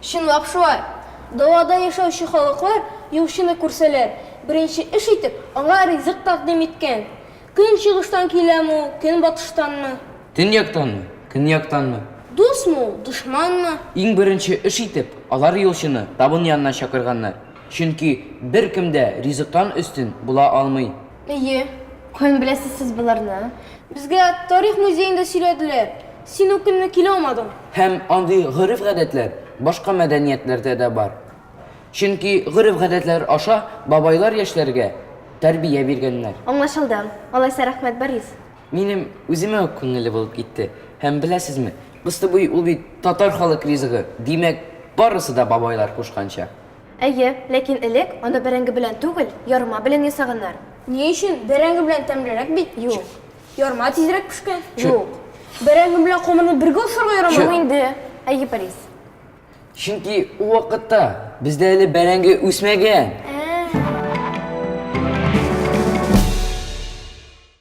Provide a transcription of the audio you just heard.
Чынлап шулай. Далада яшәүче халыклар юлчыны күрсәләр, беренче эш итеп, аңа ризык тәкъдим иткән. Көнчыгыштан киләме ул, көнбатыштанмы? Төньяктанмы, көньяктанмы? Дусмы ул, дошманмы? Иң беренче эш итеп, алар юлчыны табын янына чакырганнар, чөнки беркем дә ризыктан өстен була алмый. Әйе, каян беләсез сез боларны? Безгә тарих музеенда сөйләделәр. Син үк көнне килә алмадың. Һәм андый гореф-гадәтләр башка мәдәниятләрдә дә бар. Чөнки гореф-гадәтләр аша бабайлар яшьләргә тәрбия биргәннәр. Аңлашылды. Алайса рәхмәт, Борис. Минем үземә үк күңелле булып китте. Һәм беләсезме, кыстыбый ул бит татар халык ризыгы, димәк, барысы да бабайлар кушканча. Әйе, ләкин элек аны бәрәңге белән түгел, ярма белән ясаганнар. Ни өчен? Бәрәңге белән тәмлерәк бит. Юк. Ярма тизрәк пешкән. Юк. Бәрәңге белән камырны бергә ашарга ярамый. Юк инде. Әйе, Борис. Чөнки ул вакытта бездә әле бәрәңге үсмәгән.